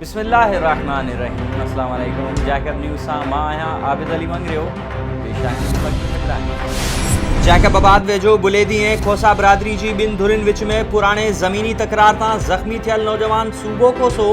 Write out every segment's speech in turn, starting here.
بسم الله الرحمٰن الرحيم اسلام عليڪم جيڪب نيوز سان مان آهيان عابد علي مڱريو پيش آهن مکيه هيڊلائينز جيڪب آباد ويجهو بليدي ۽ کوسا برادري جي ٻن ڌرين وچ ۾ پراڻي زميني تڪرار تان زخمي ٿيل نوجوان صوبو کوسو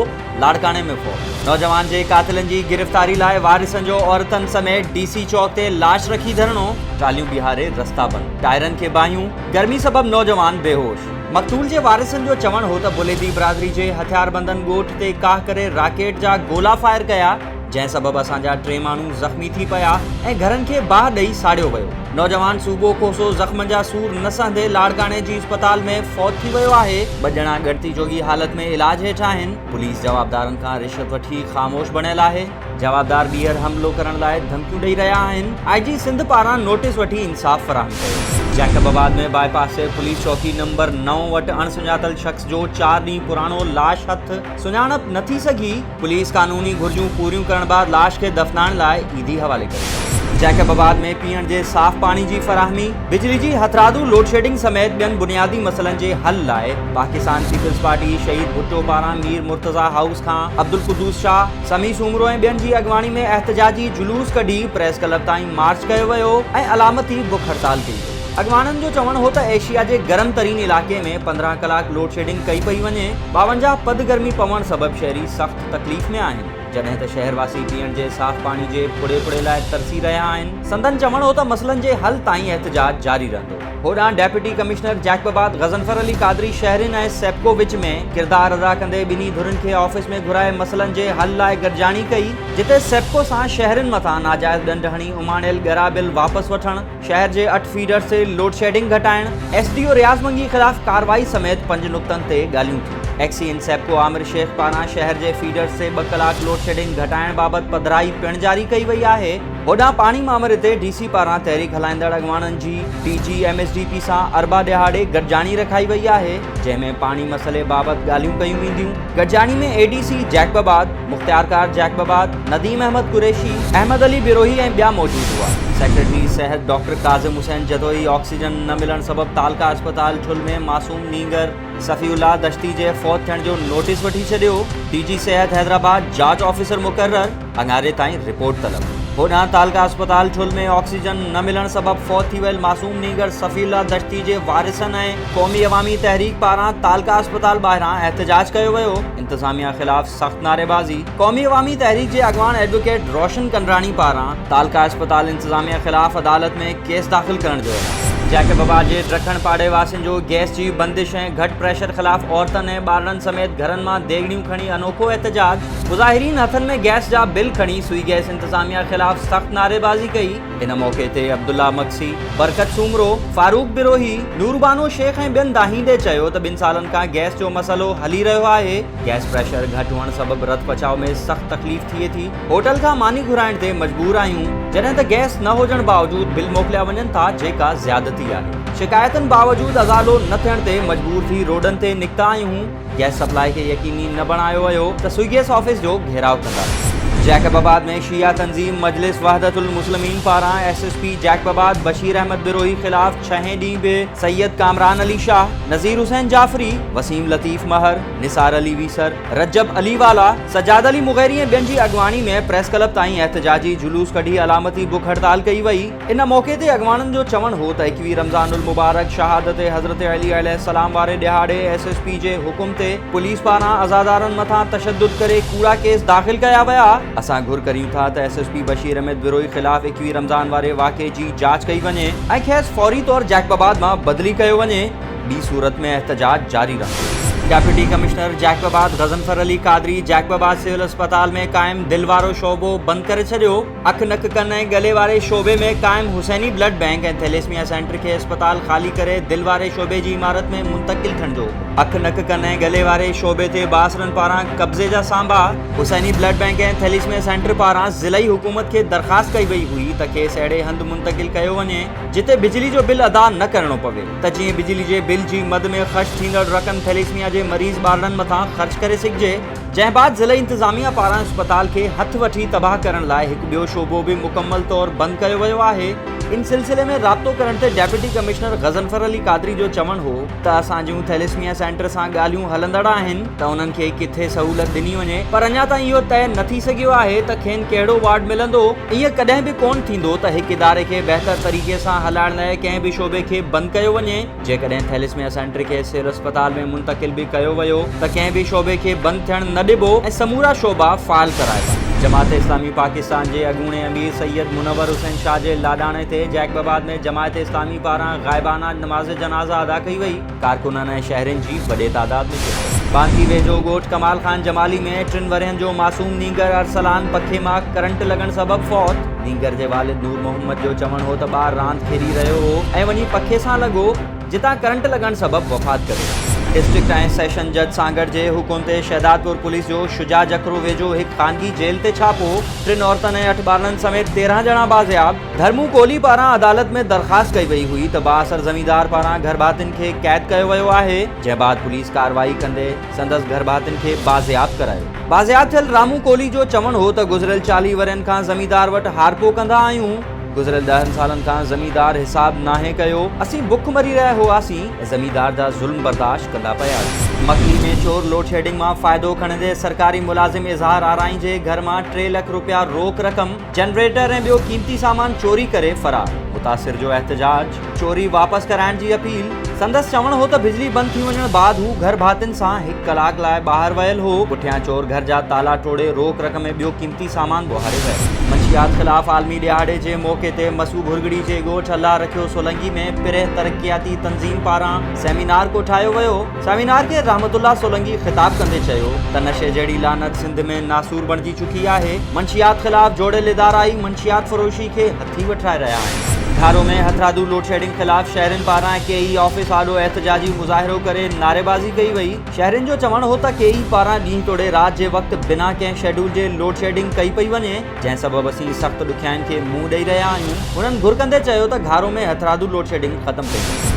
لاڙڪاڻي ۾ فوت نوجوان جي قاتلن جي گرفتاري لاء وارثن جو عورتن سميت ڊي سي چوڪ تي لاش رکي ڌرڻو ٽاليون بيهاري رستا بند ٽائرن کي باهيون گرمي سبب نوجوان بيهوش. مقتول جي وارثن جو چوڻ هو ته بليدي برادري جي هٿياربندن ڳوٺ تي ڪاهه ڪري راڪيٽ جا گولا فائر ڪيا، جنهن سبب اسان جا ٽي ماڻهو زخمي ٿي پيا ۽ گهرن کي باهه ڏئي ساڙيو ويو. نوجوان صوبو کوسو زخمن جا سور نه سهندي لاڙڪاڻي جي اسپتال ۾ فوت ٿي ويو آهي. ٻه ڄڻا ڳڻتي جوڳي حالت ۾ علاج هيٺ آهن. پوليس جوابدارن کان رشوت وٺي خاموش بڻيل آهي. جوابدار ٻيهر حملو ڪرڻ لاء ڌمڪيون ڏئي رهيا آهن، آء جي سنڌ پاران نوٽيس وٺي انصاف فراهم ڪيو. جيڪب آباد ۾ باء پاس تي پوليس چوڪي نمبر نو وٽ اڻ سڃاتل شخص جو چار ڏينهن پراڻو لاش هٿ، سڃاڻپ نه ٿي سگهي، پوليس قانوني گهرجون پوريون ڪرڻ بعد لاش کي دفنائڻ لاء عيدي حوالي ڪري ڇڏيو. جيڪب آباد ۾ پيئڻ جي صاف پاڻي جي فراهمي، بجلي جي هٿرادو لوڊشيڊنگ سميت ٻين بنيادي مسئلن جي حل لاء پاڪستان پيپلز پارٽي شهيد ڀٽو پاران مير مرتضيٰ هائوس کان عبدالقدوس شاهه، سمي سومرو ۽ ٻين جي اڳواڻي ۾ احتجاجي جلوس ڪڍي پريس ڪلب تائين مارچ ڪيو ويو ۽ علامتي بک هڙتال ڪئي وئي. اڳواڻن جو چوڻ هو ته ايشيا جي گرم ترين علائقي ۾ پندرهن ڪلاڪ لوڊشيڊنگ ڪئي پئي وڃي، ٻاونجاهه پد گرمي پوڻ سبب شهري سخت تڪليف ۾ آهن، جڏهن ته شهرواسي پيئڻ جي صاف پاڻي جي ڦڙي ڦڙي لاء ترسي رهيا آهن. سندن چوڻ هو ته مسئلن جي حل تائين احتجاج جاري رهندو. هوڏانهن deputy commissioner Jacobabad Ghazanfar Ali Qadri شهرين ۽ سيپڪو وچ ۾ ڪردار ادا ڪندي ٻنهي ڌرين کي آفيس ۾ گهرائي مسئلن جي حل لاء گڏجاڻي ڪئي جتي سيپڪو سان شهرين مٿان ناجائز ڏنڊ هڻي اماڻيل ڳرا بل واپس وٺڻ شهر جي اٺ فيڊرز تي لوڊشيڊنگ گهٽائڻ S D O Riaz Mangi خلاف ڪارروائي سميت پنج نقطن تي ڳالهيون ٿيون X E N SEPCO Amir Shaikh پاران شهر جي فيڊرز تي ٻه ڪلاڪ لوڊشيڊنگ گهٽائڻ بابت پڌرائي پڻ جاري ڪئي وئي آهي هوڏانهن پاڻي مامري تي ڊي سي پاران تحريڪ هلائيندڙ اڳواڻن جي D G M S D P سان اربع ڏهاڙي گڏجاڻي رکائي وئي آهي جنهن ۾ پاڻي مسئلي بابت ڳالهيون ڪيون وينديون گڏجاڻي ۾ اي ڊي سي جيڪب آباد مختيار ڪار جيڪب آباد نديم احمد قريشي احمد علي بروهي ۽ ٻيا موجود هئا سيڪريٽري صحت ڊاڪٽر ڪاظم حسين جتوئي آڪسيجن نه ملڻ سبب تعلقه اسپتال ٺل ۾ معصوم نينگر صفي الله دشتي جي فوت ٿيڻ جو نوٽيس وٺي ڇڏيو، ڊي جي صحت حيدرآباد جاچ آفيسر مقرر، اڱاري تائين رپورٽ طلب. هوڏانهن تعلقه اسپتال ڇل ۾ آڪسيجن نه ملڻ سبب فوت ٿي ويل معصوم نينگر صفي الله دشتي جي وارثن ۽ قومي عوامي تحريڪ پاران تعلقه اسپتال ٻاهران احتجاج ڪيو ويو، انتظاميا خلاف سخت نعريبازي قومي عوامي تحريڪ جي اڳواڻ ايڊووڪيٽ روشن ڪنڊراڻي پاران تعلقه اسپتال انتظاميه خلاف عدالت ۾ ڪيس داخل ڪرڻ جو اعلان. جيڪب آباد جي ڊرکڻ پاڙي واسين جو گئس جي بندش ۽ گهٽ پريشر خلاف عورتن ۽ ٻارڙن سميت گهرن مان ديڳڙيون کڻي انوکو احتجاج، مظاهرين هٿن ۾ گئس جا بل کڻي سوئي گئس انتظاميه خلاف سخت نعريبازي ڪئي، ان موقعي تي عبدالله مگسي، برڪت سومرو، فاروق بروهي، نوربانو شيخ ۽ ٻين دانهين ڏي چيو ته ٻن سالن کان گئس جو مسئلو هلي رهيو آهي، گئس پريشر گهٽ هئڻ سبب رت پچاء ۾ سخت تڪليف ٿئي ٿي، هوٽل کان ماني گهرائڻ تي مجبور آهيون، جڏهن ته گئس نه هجڻ باوجود بل موڪليا وڃن ٿا جيڪا زيادتي آهي. شڪايتن باوجود ازالو نه ٿيڻ تي مجبور ٿي روڊن تي نڪتا آهيون، گئس سپلاء کي يقيني نه بڻايو ويو ته سوئيگيس آفيس جو گهيراء ڪنداسين. جيڪب آباد ۾ شيعه تنظيم مجلس وحدت المسلمين پاران S S P Jacobabad Bashir Ahmed Brohi خلاف ڇهين ڏينهن به سيد ڪامران علي شاهه، نذير حسين جعفري، وسيم لطيف مهر، نثار علي ويسر، رجب علي والا، سجاد علي مغيري ۽ ٻين جي اڳواڻي ۾ پريس ڪلب تائين احتجاجي جلوس ڪڍي علامتي بک هڙتال ڪئي وئي. ان موقعي تي اڳواڻن جو چوڻ هو ته ايڪويهه رمضان المبارڪ شهادت حضرت علي عليه السلام واري ڏهاڙي ايس ايس پي جي حڪم تي پوليس پاران عزادارن مٿان تشدد ڪري ڪوڙا ڪيس داخل ڪيا ويا، اسان گهر ڪريون ٿا ته S S P Bashir Ahmed Brohi خلاف ايڪويهه رمضان واري واقعي جي جاچ ڪئي وڃي ۽ کيس فوري طور جيڪب آباد مان بدلي ڪيو وڃي، ٻي صورت ۾ احتجاج جاري رهندو. Deputy commissioner Jacobabad Ghazanfar Ali Qadri Jacobabad civil اسپتال ۾ قائم دل وارو شعبو بند ڪري ڇڏيو، اک نڪ ڪن ۽ ڳلي واري شعبي ۾ قائم حسيني بلڊ بئنڪ ۽ ٿيليسميا سينٽر کي اسپتال خالي ڪري دل واري شعبي جي عمارت ۾ منتقل ٿيڻ جو اک نڪ ڪن ۽ ڳلي واري شعبي تي بااثرن پاران قبضي جا سانبا. حسيني بلڊ بئنڪ ۽ ٿيليسميا سينٽر پاران ضلعي حڪومت کي درخواست ڪئي وئي هئي ته کيس اهڙي هنڌ منتقل ڪيو وڃي جتي بجلي جو بل ادا نه ڪرڻو پوي ته جيئن بجلي جي بل جي مد ۾ خرچ ٿيندڙ رقم ٿيليسميا جي مريض ٻارڙن مٿان خرچ ڪري سگهجي جنهن بعد ضلعي انتظاميا پاران اسپتال کي هٿ وٺي تباهه ڪرڻ لاء هڪ ٻيو شعبو به مڪمل طور بند ڪيو ويو آهي ان سلسلي ۾ رابطو ڪرڻ تي ڊيپٽي ڪمشنر غضنفر علي قادري جو چوڻ هو ته اسان جون ٿيليسميا سينٽر سان ڳالهيون هلندڙ آهن ته انهن کي ڪٿي سهولت ڏني وڃي پر اڃا تائين اهو طئي نه ٿي سگهيو آهي ته کين ڪهڙو وارڊ ملندو. ائين ڪڏهن به ڪونه ٿيندو ته هڪ اداري کي بهتر طريقي سان هلائڻ لاء ڪنهن به شعبي کي بند ڪيو وڃي. جيڪڏهن ٿيليسميا سينٽر کي سول اسپتال ۾ منتقل به ڪيو ويو ته ڪنهن به شعبي کي بند ٿيڻ نه ڏبو ۽ سمورا شعبا فعال ڪرائبا. جماعت اسلامي پاڪستان جي اڳوڻي امير سيد منور حسين شاهه جي لاڏاڻي تي جيڪب آباد ۾ جماعت اسلامي، پاران غائبانه نماز جنازه ادا ڪئي وئي، ڪارڪنن ۽ شهرين جي وڏي تعداد ۾ شرڪت. بانسي ويجهو ڳوٺ ڪمال خان جمالي ۾ ٽن ورهين جو معصوم نينگر ارسلان پکي مان ڪرنٽ لڳڻ سبب فوت، نينگر جي والد نور محمد جو چوڻ هو ته ٻار راند کيڏي رهيو هو ۽ وڃي پکي سان لڳو جتان ڪرنٽ لڳڻ سبب وفات ڪري ويو. ڊسٽرڪٽ ۽ سيشن جج سانگهڙ جي حڪم تي شهدادپور پوليس جو شجاع جکرو ويجهو هڪ خانگي جيل تي ڇاپو، ٽن عورتن ۽ اٺ ٻارڙن سميت تيرهن ڄڻا بازياب. ڌرمو ڪولهي پاران عدالت ۾ درخواست ڪئي وئي هئي ته بااثر زميندار پاران گهرڀاتين کي قيد ڪيو ويو آهي، جنهن بعد پوليس ڪارروائي ڪندي سندس گهرڀاتين کي بازياب ڪرايو. بازياب ٿيل رامو ڪولهي جو چوڻ هو ته گذريل چاليهه ورهين کان زميندار وٽ هارپو ڪندا آهيون، گذريل ڏهن سالن کان زميندار حساب ناهي ڪيو، اسين بک مري رهيا هئاسين ۽ زميندار جا ظلم برداشت ڪندا پيا آهيون. مڪلي ۾ چور لوڊشيڊنگ مان فائدو کڻندي سرڪاري ملازم اظهار آرائين جي گهر مان ٽي لک رپيا روڪ رقم، جنريٽر ۽ ٻيو قيمتي سامان چوري ڪري فرار، متاثر جو احتجاج، چوري واپس ڪرائڻ جي اپيل، سندس چوڻ هو ته بجلي بند ٿي وڃڻ بعد هو گهر ڀاتين سان هڪ ڪلاڪ لاء ٻاهر ويل هو، پٺيان چور گهر جا تالا ٽوڙي روڪ رڪ ۾ ٻيو قيمتي سامان ٻوهاري ويو. منشيات خلاف عالمي ڏهاڙي جي موقعي تي مسو گهرڳڙي جي ڳوٺ الله رکيو سولنگي ۾ پريهه ترقياتي تنظيم پاران سيمينار ڪوٺايو ويو، سيمينار کي رحمت الله سولنگي خطاب ڪندي چيو ته نشي جهڙي لعنت سنڌ ۾ ناسور بڻجي چڪي آهي، منشيات خلاف جوڙيل ادارا ئي منشيات فروشي کي هٿي وٺرائي رهيا آهن. گهارو ۾ هٿرادو لوڊشيڊنگ خلاف شهرين پاران ڪي اي آفيس آڏو احتجاجي مظاهرو ڪري نعريبازي ڪئي وئي، شهرين جو چوڻ هو ته ڪي اي پاران ڏينهن توڙي رات جي وقت بنا ڪنهن شيڊول جي لوڊشيڊنگ ڪئي پئي وڃي جنهن سبب اسين سخت ڏکيائين کي منهن ڏئي رهيا آهيون، هنن گهر ڪندي چيو ته گهارو ۾ هٿرادو لوڊشيڊنگ ختم ڪئي وڃي.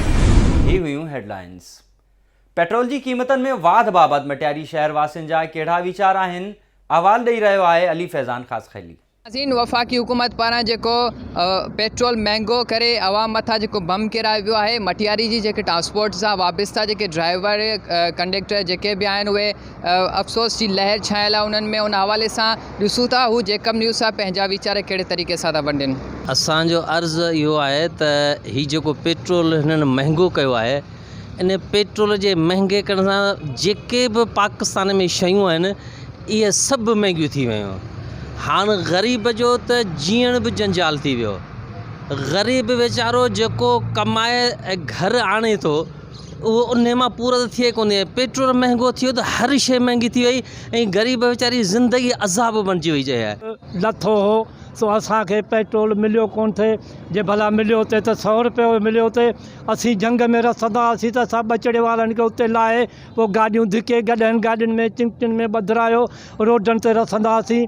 هي هيون هيڊلائنز. پيٽرول جي قيمتن ۾ واڌ بابت مٽياري شهر واسين جا ڪهڙا ويچار آهن، احوال ڏئي رهيو آهي علي فيضان خاصخيلي. نازنين وفاقي حڪومت پاران جيڪو پيٽرول مهنگو ڪري عوام مٿان جيڪو بم ڪيرايو ويو آهي مٽياري جي جيڪي ٽرانسپورٽ سان وابسته جيڪي ڊرائيور ڪنڊيڪٽر جيڪي به آهن اهي افسوس جي لهر ڇانيل آهي انهن ۾ ان حوالي سان ڏسون ٿا هو جيڪب نيوز سان پنهنجا ويچار ڪهڙي طريقي سان ٿا ونڊين. اسان جو عرض اهو آهي ته هي جيڪو پيٽرول هنن مهنگو ڪيو آهي ان پيٽرول جي مهنگي ڪرڻ سان جيڪي به پاڪستان ۾ شيون آهن اهي سڀ مهنگيون ٿي ويون هاڻ غريب جو ته جيئڻ به جنجال ٿي ويو غريب ويچارو جيڪو ڪمائي ۽ گهر آڻي ٿو اهو انهي مان پورو ته ٿئي ڪونهي پيٽرول مهنگو ٿيو ته هر شئي مهنگي ٿي وئي ۽ غريب ويچاري جي زندگي عذاب بڻجي وئي چئي ها. لٿو هو سو اسان کي پيٽرول مليو ڪونه ٿئي جي ڀلا مليو هتي ته سئو روپيه به مليو هتي اسين جهنگ ۾ رسندا هئاسين ته اسان ٻچڙي وارن کي اتي لاهي پوء گاڏيون ڌڪي گڏهن گاڏين ۾ چنگٽن ۾ ٻڌرايو روڊن تي رسندا هئاسين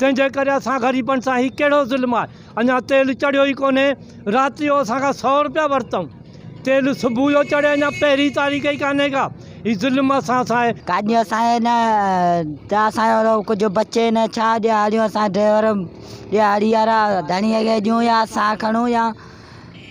تنهنجي ڪري اسان غريبن سان هي ڪهڙو ظلم آهي اڃا تيل چڙهيو ئي ڪونهي رات جو اسان کان سو روپيا ورتائون تيل صبح جو چڙهي اڃا پهرين تاريخ ئي ڪانهي ڪا هي ظلم اسان سان آهي گاڏيون اسانجي نه ته اسانجو ڪجهه بچي نه ڇا ڏيهاڙيون اسان ڊرائيور ڏيهاڙي وارا ڌڻيء کي ڏيون يا اسان کڻون يا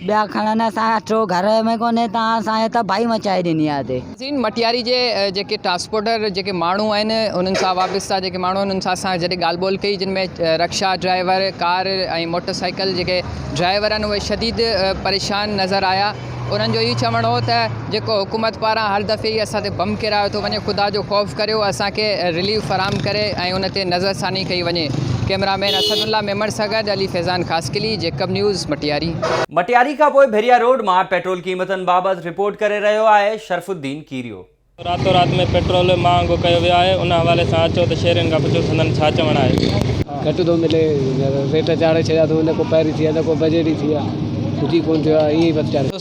ٻيا کڻن اسان اچو گهر ۾ ڪونهي تان اسان ته بائي مچائي ڏني آ اتي. زين مٽياري جي جيڪي ٽرانسپورٽر جيڪي ماڻهو آهن انهن سان وابسته جيڪي ماڻهو آهن انهن سان اسان جڏهن ڳالهه ٻولهه ڪئي جن ۾ rickshaw driver car ۽ motorcycle جيڪي ڊرائيور آهن اهي شديد پريشان نظر آيا انهن جو اهي چوڻ هو ته جيڪو حڪومت پاران هر دفعي ئي اسان تي بم ڪيرايو ٿو وڃي خدا جو خوف ڪريو اسان کي رليف فراهم ڪري ۽ ان تي نظر ثاني ڪئي وڃي cameraman Asadullah Memon سان گڏ علي فيضان خاصخيلي جيڪب نيوز مٽياري. مٽياري کان پوء ڀيريا روڊ مان پيٽرول قيمتن بابت رپورٽ ڪري رهيو آهي شرف الدين ڪيريو. راتو رات ۾ پيٽرول مهانگو ڪيو ويو آهي ان حوالي سان اچو ته شهرين کان پڇو سندن ڇا چوڻ آهي. گهٽ ٿو ملي ريٽ چاڙهي ڇڏيا اٿئون نه ڪو پهري ٿي ويا نه ڪو بجيٽ ئي ٿي ويا ڪجهه ئي ڪون ٿيو آهي ائين ئي بس چاڙهي.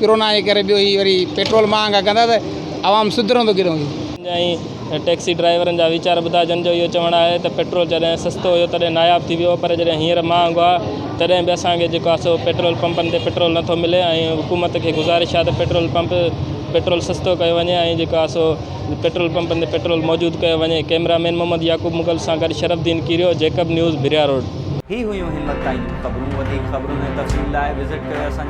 ڪرونا جي ڪري ٻيو هي وري پيٽرول مهانگا ڪندا ته عوام سڌرندو ڪيڏانهن هي. جيئن ٽيڪسي ڊرائيورن جا ويچار ٻڌا جن جو اهو چوڻ آهي ته پيٽرول جڏهن سستو هيو تڏهن ناياب ٿي ويو پر جڏهن هينئر مهانگو آهي تڏهن به اسان کي جيڪو آهي سو پيٽرول پمپن تي پيٽرول نٿو ملي ۽ حڪومت کي گذارش آهي ته پيٽرول پمپ پيٽرول سستو ڪيو وڃي ۽ جيڪو آهي سو پيٽرول پمپن تي پيٽرول موجود ڪيو وڃي ڪئميرا مين محمد يعقوب مغل سان گڏ شرف دين ڪيريو جيڪب نيوز ڀريا روڊ. هي هيون همت تائين جون خبرون وڌيڪ خبرن ۽ تفصيل لاء وزٽ ڪريو اسان جي.